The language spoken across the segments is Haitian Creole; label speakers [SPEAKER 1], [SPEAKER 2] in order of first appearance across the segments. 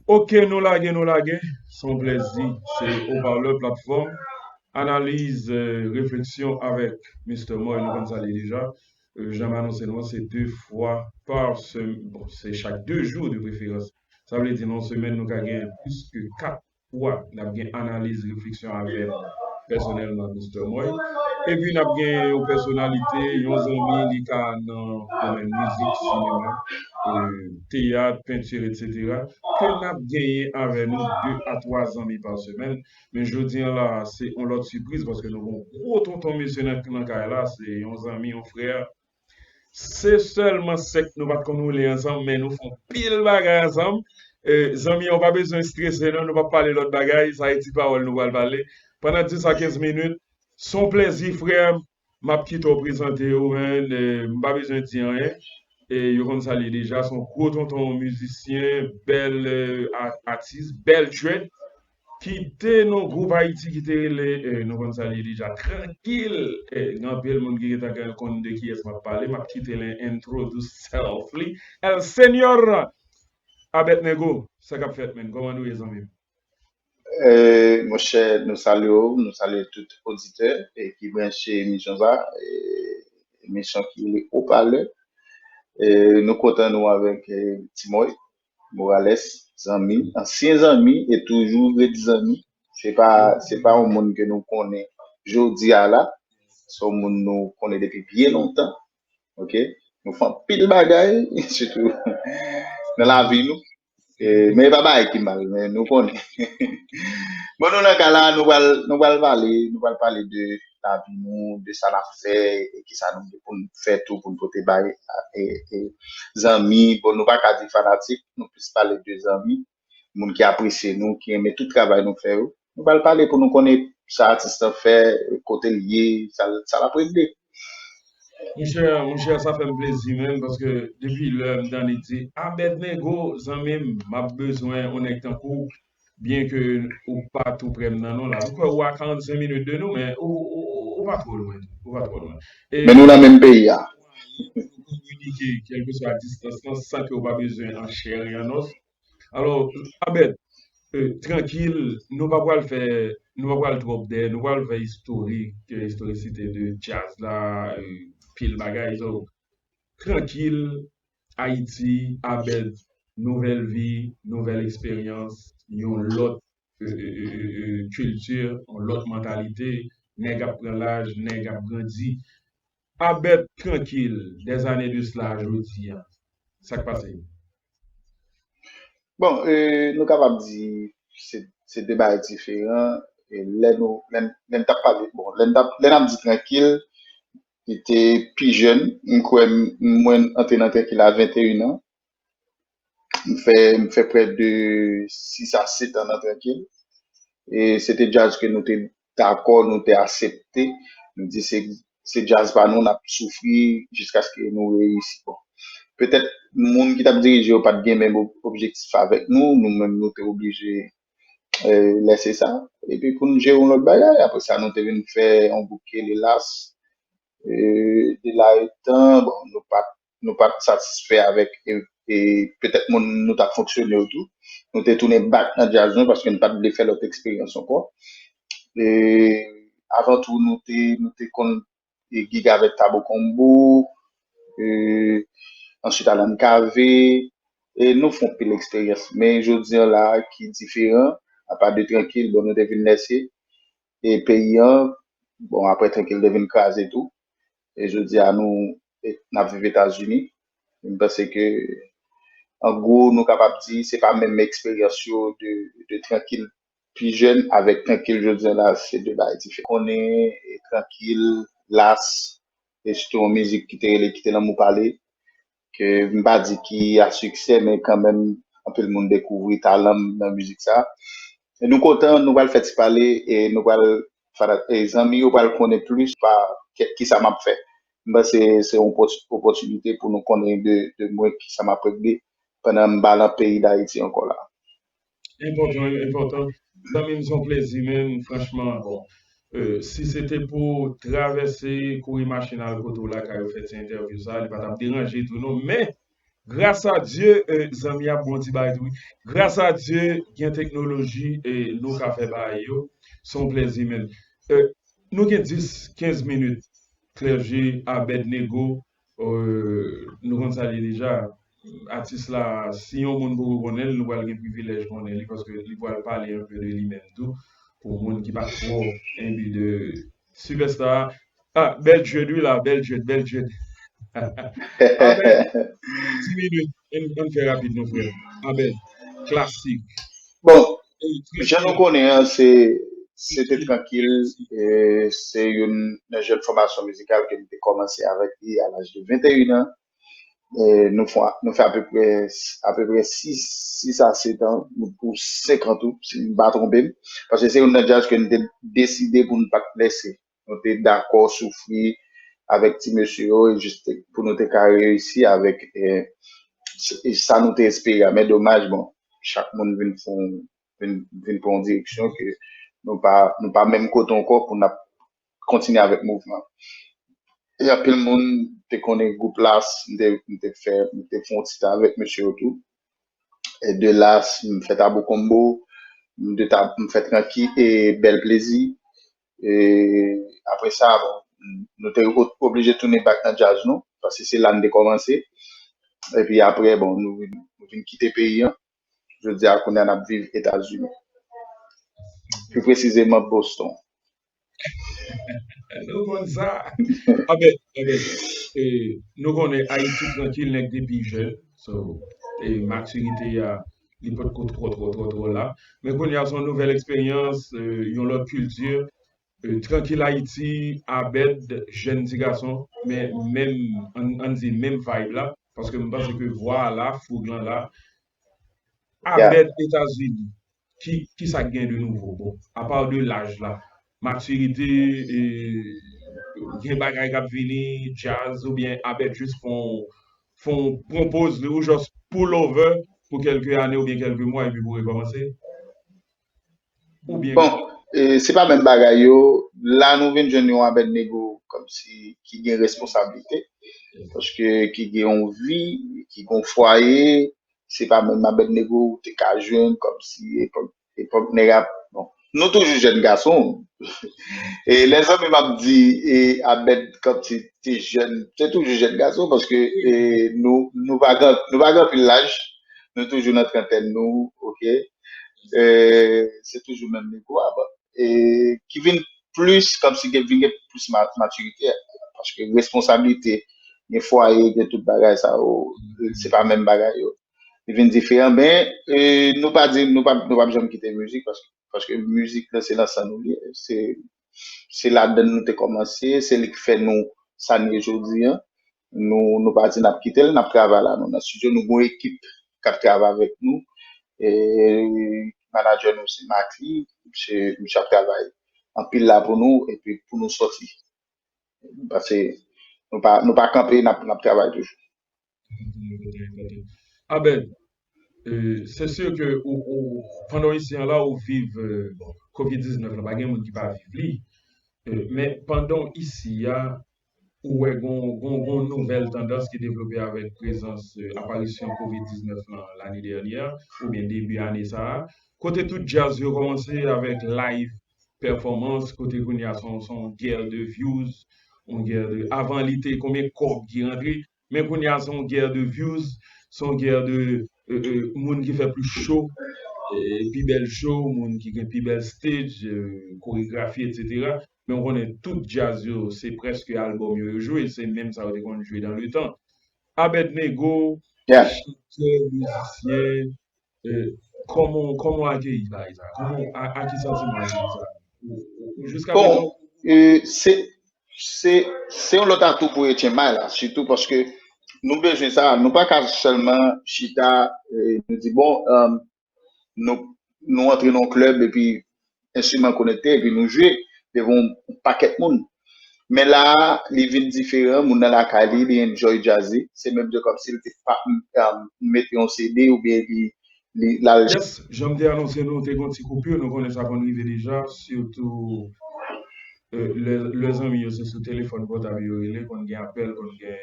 [SPEAKER 1] Ok nou lage nou lage se yon plezi se Haut-Parleur Plateforme Analyse Réflexion avèk Mister Moy nou konn sa li ye deja jan m anonse nou an se 2 fwa pa se chak 2 jou de preferans sa vle di nan yon semèn nou ka gen plis ke 4 Pou wap n ap gen analiz refleksyon avè m pèsonèlman Mister Moy. Epi n ap gen yon pèsonalite, yon zanmi li ka nan domèn mizik, sinema, teyat, penti etc. Ke n ap genyen avè nou 2 a 3 zanmi pa semèn. Men jodi an la se yon lòt sipriz paske nou gen yon gwo tonton mesye nan kay la se yon zanmi yon frè. Se sèlman sèk nou pat konn woule ansanm men nou fè yon pil bagay ansanm zanmi an ou pa bezwen strese non nou pap pale lòt bagay sa e ti pawòl nou pral pale pandan 10 a 15 minit se yon plezi frèm map kite w prezante yo man m pa bezwen di anyen yo konn sa l ye deja se yon gwo tonton mizisyen bèl atis bèl tchwèt. Ki te nou gwoup Haiti ki te rele nou konn sa li ye deja trankil gen anpil moun ki gentan gen konn de kiyès map pale map kite li introduce self li el señor Abednego sa kap fèt menn koman nou ye zanmim.
[SPEAKER 2] Monchè nou salye w nou salye tout oditè ki branche emisyon sa emisyon ki rele opalè nou kontan nou avèk Ti Moy Morales zanmi ansyen zanmi e toujou ret zanmi se pa se pa yon moun ke nou konnen jodi a la se yon moun nou konnen depi byen lontan ok nou fè anpil bagay sitou nan lavi nou e men e pa bagay ki mal men nou konnen bon nou nan ka la nou pral nou pral pale nou pral pale de lavi nou, de sa n ap fè e ki sa nou gen pou n fè tou pou n pote bay zanmi. Bon nou pa ka di fanatik, nou plis pale de zanmi, moun ki apresye nou, ki renmen tout travay nou fè yo. Nou ba l pale pou nou konnen sa atis lan fè, kote l ye, sa l ap regle. Monchè,
[SPEAKER 1] monchè sa fè m plezi menm paske depi lè m tande di Abednego zanmi m, m ap bezwen yon nèg tankou w, Byen ke ou pa tou prè m nan non la. M kwè ou a 45 minutes de nou men ou pa twò lwen tou. Ou pa twò lwen. E Men nou nan menm
[SPEAKER 2] peyi a. mwayen pou nou
[SPEAKER 1] kominike kèlkeswa distans lan san ke ou pa bezwen an chè e an os. Alò, Abed, trankil, nou pa pral fè, nou pa pral twòp dèyè, nou pa pral fè istorik, istorisite de djaz la, pil bagay. Donk, trankil, Ayiti a bèl Nouvèl vi nouvèl eksperyans Yon lòt kilti Yon lòt mantalite Nèg ap pran laj nèg ap grandi A bèt trankil Dè zane de sla a jodi a Sa k pase?
[SPEAKER 2] Bon nou kapab di se 2 bagay diferan Lè nou lè n tap pale bon lè n ap di trankil Li te pi jèn, m kwè mwen antre nan Tèkil a 21 an. M fè m fè prè de 6 a 7 an nan Tèkil. E se te djaz ke nou te dakò, nou te asepte. Nou di se se djaz pa nou, n ap soufri jiskaske nou reyisi. Bon, petèt moun ki t ap dirije yo pa t gen menm objektif avèk nou. Nou menm nou te oblije lè se sa epi pou nou jere yon lòt bagay apre sa nou te vin fè yon gwoup ki rele las e de la etan bon nou pat nou pat satisfè avèk e petèt moun nou tap fonksyone yo tou nou te tounen bak nan djaz nou paske nou pat vle fè lòt eksperyans ankò e avan tou nou te nou te konn gig avèk Tabo Combo, answit Alan KV, e nou fon pil eksperyans. Men jodi an la ki diferan, apa de Trankil, bon nou te vin lèse e peyi an, bon aprè Trankil te vin kraze tou, e jodi a nou nap viv Etazini, m panse ke an gwo nou kapab di se pa menm eksperyans yo de Trankil pi jèn avèk trankil jodi an la se 2 bagay diferan. Konnen e trankil, las, e sitou yon mizik ki te rele Kite lanmou pale ke m pa di ki a siksè men kanmenm anpil moun dekouvri talan m nan mizik sa. E nou kontan nou pral fè ti pale e nou pral fana e zanmi yo pral konnen plis pa kè kisa m ap fè. M panse se yon opòti opòtinite pou nou konnen de de mwen kisa m ap regle pandan m pa lan peyi Dayiti ankò la.
[SPEAKER 1] Enpòtan yo enpòtan zanmim son
[SPEAKER 2] plezi
[SPEAKER 1] menm franchman bon si se te pou travèse kouri machin al kote w lakay ou fè ti entèvyou sa li pa tap deranje tou non men gras a Dye zanmi ap bon ti bagay tou wi gras a Dye gen teknoloji nou ka fè bagay yo son plezi menm nou gen 10 15 minit Clergé Abednego Ohh nou konn sa l ye deja. Atis la si yon moun poko konnen l nou pral gen privilèj konnen li paske li pral pale un peu de li menm tou pou moun ki pa twò enbi de sipèsta a ah bèl djed wi la bèl djed bèl djed Abed ti minit ann fè rapid non frè m Abed klasik. Bon
[SPEAKER 2] Jan nou konnen an, se se te trankil,
[SPEAKER 1] e se youn
[SPEAKER 2] nan jèn fòmasyon mizikal ke m te kòmanse avèk li a laj de 21 an. E nou fon nou fè apeprè apeprè 6 6 a 7 an nou pou 5 an tou si m pa twonpe m, paske se youn nan djaz ke n te deside pou n pa t lèse Nou te dakò soufri avèk ti mesye yo jis pou nou te ka reyisi avèk sa nou te espere a. Men domaj bon, chak moun vin pran yon direksyon ke nou pa menm kote ankò pou n ap kontinye avèk mouvman an. E anpil moun te konnen gwoup Las, m te fè yon ti tan avèk mesye yo tou. E de Las, m fè Tabou Konmbo, m fè Tranki e Bèl Plezi. E apre sa, bon, nou te oblije tounen back nan djaz nou, paske se la n te kòmanse. E pi apre, bon, nou vin kite peyi an. Jodi a, kounye a, n ap viv Etazini. Pi presizeman, Boston.
[SPEAKER 1] Nou konn sa. A men, a men, e nou konnen Ayiti trankil nèg depi jèn. So, e matirite a. li pot ko twò twò twò twò la men kounye a son nouvèl eksperyans yon lòt kilti trankil ayiti Abed jèn ti gason men menm ann di menm vayb la paske m panse ke vwa a la foug lan la
[SPEAKER 2] Abed etazini
[SPEAKER 1] ki sa k gen de nouvo bon apa de laj la matirite gen bagay k ap vini djaz oubyen Abed jis fon fon pran poz li ou just pull over pou kelke ane oubyen kelke mwa epi pou rekomanse? Oubyen. Bon, se pa
[SPEAKER 2] menm bagay yo, la nou vin jwenn yon Abednego komsi ki gen responsablite, paske ki gen yon vi, ki gen yon fwaye, se pa menm Abednego ou te ka jwenn komsi epok Epòk nèg ap bon. Nou toujou jèn gason. E lè zanmi m ap di e Abed kanp se te jèn, se toujou jèn gason paske e nou nou pa gran nou pa gran anpil laj, nou toujou nan trantèn nou ok. E se toujou menm nego a bon. E ki vin plis kanp si gen vin gen plis ma matirite paske responsablite gen fwaye gen tout bagay sa yo se pa menm bagay yo. li vin diferan ben nou pa di nou pap nou pap janm kite mizik paske paske mizik lan se nan san nou li ye se se ladann nou te kòmanse se li ki fè nou sa nou ye jodi an nou nou pa di nap kitel nap travay la nou nan studio nou gon ekip kap travay avèk nou e manadjè nou se Mately misye misye ap travay anpil la pou nou epi pou nou sòti pase nou pa nou pa kanpe nap nap travay toujou.
[SPEAKER 1] Abed, se sur ke pandan w isi an la ou viv covid 19 la, pa gen moun ki pa viv li, men pandan w isi a ou wè gen yon nouvèl tandans ki devlope avèk prezans aparisyon covid 19 lan lane dènyè a oubyen debi ane sa a, kote tout djaz yo kòmanse avèk live pèfòmans, kote kounye a se yon gè de vyouz, yon gè de, avan li te konbyen kòb ki rantre, Men kounya son guerre de views son guerre de moun ki fè plis show pi bèl show moun ki gen pi bèl stage koregrafi etc men ou konnen tout djaz yo se prèske album yo yo jwe se menm sa yo te konn jwe dan le tan Abednego
[SPEAKER 2] chantè
[SPEAKER 1] mizisyen Kòman ou akeyi bagay sa? Ak ki santiman ou akeyi sa? Jiska prezan ou konprann?
[SPEAKER 2] Se yon lòt atou pou Etienne bay la, sitou paske nou bezwen sa, nou pa ka sèlman chita, nou di bon, nou antre nan yon klèb epi enstriman l konekte epi nou jwe devan yon pakèt moun. Men la a, li vin diferan, moun nan lakay li, li enjoy djaz li. Se menm jan kòmsi l te pa mete yon CD oubyen li l al. Yes, jan m te
[SPEAKER 1] anonse nou, te gen yon ti koupur, nou konnen sa konn rive deja, sitou lè zanmi yo se sou telefòn pòtab yo rele, konn gen apèl, konn gen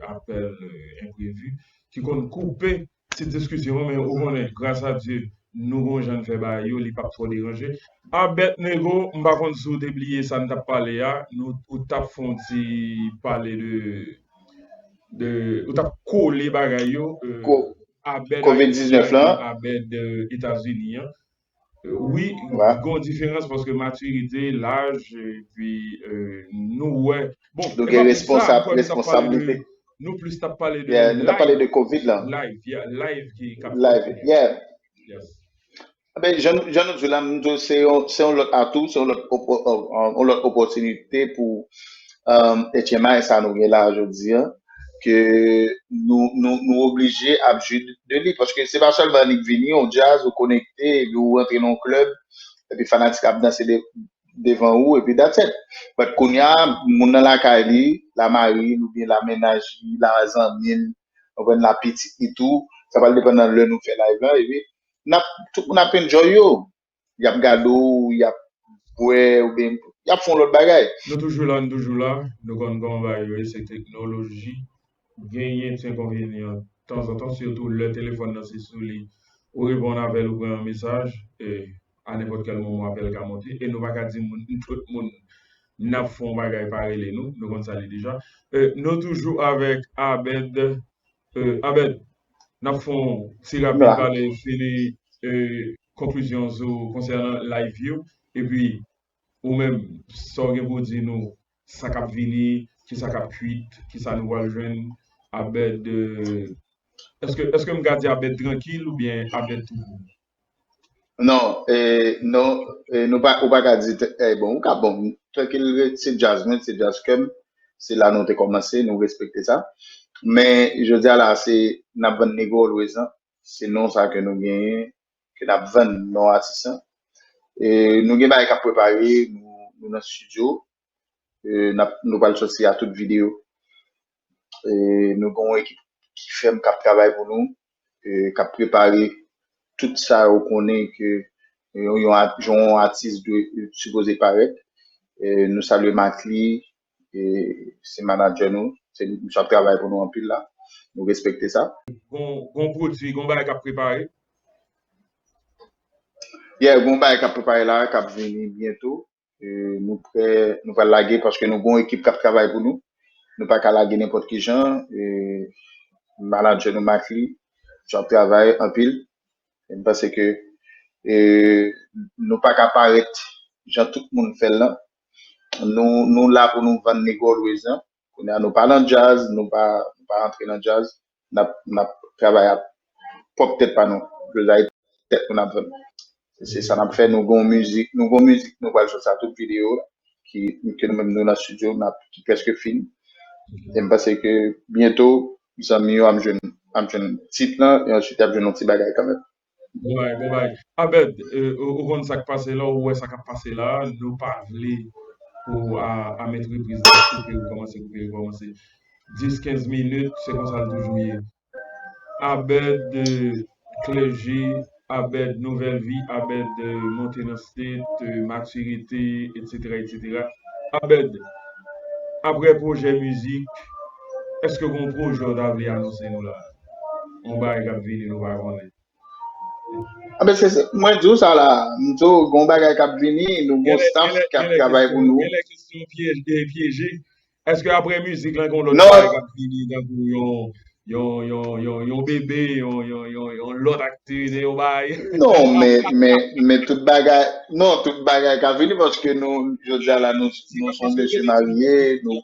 [SPEAKER 1] apèl enprevu ki konn koupe Ti diskisyon men ou konnen gras a Dye nou gon jan n fè bagay yo li pap twò deranje. Abednego m pa konn si w te bliye sa n t ap pale a nou ou t ap fè yon ti pale de de ou t ap kole bagay yo Abed Ayiti ak
[SPEAKER 2] Abed
[SPEAKER 1] Etazini an Wi gon
[SPEAKER 2] diferans paske
[SPEAKER 1] matirite, laj epi nou wè bon nou gen responsabilite nou plis tap
[SPEAKER 2] pale
[SPEAKER 1] de live nou tap pale de covid
[SPEAKER 2] lan live yeah live ki
[SPEAKER 1] kap live yeah yes anben
[SPEAKER 2] jan nou di la m di w se yon lòt atou se yon lòt yon lòt opòtinite pou HMI sa nou gen la jodi an ke nou nou oblije ap jwi de li paske se pa sèlman annik vini yon djaz ou konekte epi ou rantre nan yon klèb epi fanatik ap danse devan ou epi that's it but kounya moun nan lakay li la mari l oubyen la mennaj li la zanmi l ou konprann la pitit li tou sa pral depann nan lè nou fè live la epi nap tout moun ap enjoy yo yap gade w yap bwè oubyen yap fè yon lòt bagay. Nou toujou la nou toujou la
[SPEAKER 1] nou konn kòman bagay yo ye se teknoloji genyen ti enkonvenyan tanzantan sitou lè telefòn nan se sou li ou reponn avè l ou pran yon mesaj e a nenpòt kèl moman apèl ka monte e nou pa ka di moun tout moun nap fè yon bagay pa rele nou nou konn sa li deja e nou toujou avèk Abed e Abed nap fè yon ti rapid pale fini e konklizyonw sou konsènan live yo epi ou menm sa w gen pou w di nou sa kap vini kisa kap kwit kisa nou pral jwenn Abed eske m ka di Abed trankil oubyen Abed toupou?
[SPEAKER 2] Non non ou pa ka di bon ou ka bon trankil se djaz mwen se djaz kèm se la nou te kòmanse nou respekte sa men jodi a la se nap vann nego always lan Se non sa ke nou genyen, ke n ap vann non atis lan. E nou gen bagay k ap prepare, nou nan studio, n ap, nou pral sòti a tout video. E nou gen yon ekip ki fèm, k ap travay pou nou, k ap prepare tout sa yo konnen ke yon atis dwe sipoze parèt. Nou salye Mately, e se manager nou se li misye ap travay pou nou anpil la nou respekte sa. Gon pwodwi,
[SPEAKER 1] gon bagay kap prepare?
[SPEAKER 2] Yeah gon bagay kap prepare la kap vini byento nou prè nou pral lage paske nou gon ekip kap travay pou nou nou paka lage nenpòt kijan e manager nou Mately misye ap travay anpil e m panse ke e nou paka parèt jan tout moun fèl lan Nou la pou nou vann nèg always an. Kounye a nou pa nan djaz, nou pa rantre nan djaz. N ap travay ak pwòp tèt pa nou. Djazay tèt nou n ap vann. Se sa n ap fè. Nou gen yon mizik nou pral sot sa tou videyo ki nou menm nou nan studio n ap ki prèske fin. E m panse ke byento zanmi yo ap jwenn tit lan e answit y ap jwenn yon ti bagay kanmenm. Bon bagay, bon bagay.
[SPEAKER 1] Abed, ou konn sa k pase la, ou wè sa k ap pase la, nou pa vle pou a mèt repriz la koupe rekòmanse, koupe rekòmanse. Dis, kenz minit, se konsa l toujou ye. Abed, klèje, Abed, nouvèl vi, Abed, monte nan state, matirite, etsetera, etsetera. Abed, aprè pwojè mizik, èske gen yon pwojè ou ta vle anonse nou la a? Yon bagay kap vini nou pa konnen.
[SPEAKER 2] Anben se mwen di w sa la, m di w gon bagay kap vini, nou gon staff kap travay pou nou. Genlè kesyon pyeje,
[SPEAKER 1] pyeje. Eske aprè mizik lan gon lòt bagay kap vini tankou yon yon yon yon yon bebe, yon yon yon yon lòt aktivite yon bagay? Non men men men tout bagay
[SPEAKER 2] non tout bagay ka vini paske nou jodi a la nou nou son mesye
[SPEAKER 1] marye nou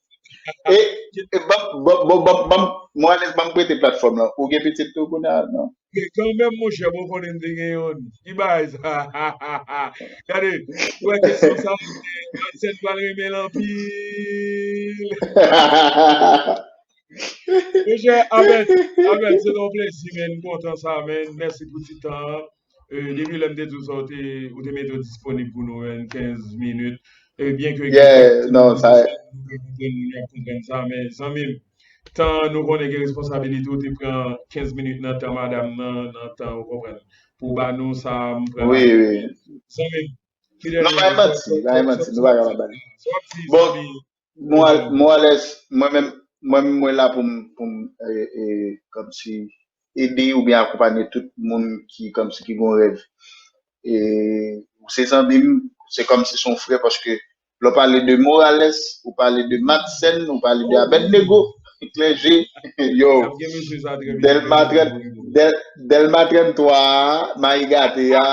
[SPEAKER 2] E, e bab, bab, bab, bab, bab, mwen alèz bab prete platfòm lan. Ou gen pitit tou kounye a? Non. Gen kanmenm
[SPEAKER 1] monchè bon konnen m te gen youn. Ki bagay sa? Gade, ou wè kesyon sa a, Madsen pral renmen l anpil. Monchè Abed, Abed se yon plezi men, m kontan sa men. Mèsi pou ti tan an. Depi lè m te di w sa ou te ou te mete w disponib pou nou 15 minit e byen ke gen kèk non sa e
[SPEAKER 2] moun ap
[SPEAKER 1] konprann sa men zanmi m tan nou konnen gen responsabilite ou te pran 15 minit nan tan madam nan nan tan ou konprann pou w ba nou sa m pran la wi wi
[SPEAKER 2] zanmi
[SPEAKER 1] m ki dènye non bay manti
[SPEAKER 2] bay
[SPEAKER 1] manti nou pa ka
[SPEAKER 2] bay manti bon Mwen al-
[SPEAKER 1] mwen
[SPEAKER 2] alèz mwen menm mwen menm mwen la pou m pou m e, e, kòmsi ede oubyen akonpanye tout moun ki kòmsi ki gon rèv. E ou se zanmi m, se kòmsi son frè paske lè w pale de Morales, ou pale de Madsen, ou pale de Abednego,
[SPEAKER 1] Clergé,
[SPEAKER 2] yo, Nap gen
[SPEAKER 1] mesye sa trè
[SPEAKER 2] byen, Delma mesye sa 30 trè byen. Del, Delma 33 a, Mayi Gate a,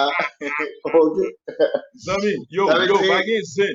[SPEAKER 2] ok. Zanmi
[SPEAKER 1] m, yo, Sa vle yo, di pa
[SPEAKER 2] gen zen.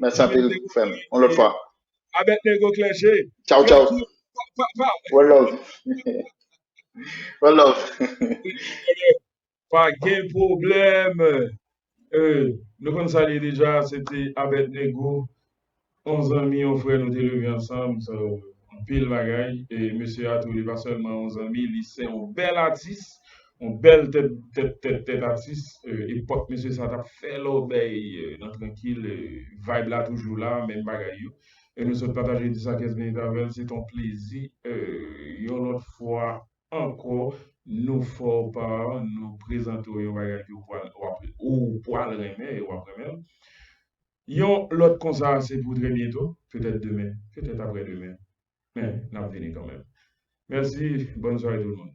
[SPEAKER 2] Mèsi anpil frèm. On
[SPEAKER 1] lòt fwa.
[SPEAKER 2] Abednego
[SPEAKER 1] Clergé. Ciao ciao.
[SPEAKER 2] One love. One love.
[SPEAKER 1] Pa gen problèm. Euh, nou konn sa li deja, se te Abednego, on zanmi, on frè nou te leve ansanm, so anpil bagay e mesye a tou li pa sèlman on zanmi, li se on bèl atis. On bèl tèt tèt tèt tèt atis epòk mesye sa tap fè lòbèy nan trankil vayb la toujou la menm bagay yo e nou sot pataje 10 a 15 minit avèl se ton plezi yon lòt fwa ankò nou fò pa nou prezante w yon bagay ke ou pwal renmen e wap renmenl yon lòt konsa se pou trè byento petèt demen petèt aprè demen. Men nap vini kanmenm. Merci, bonne soirée tout le monde.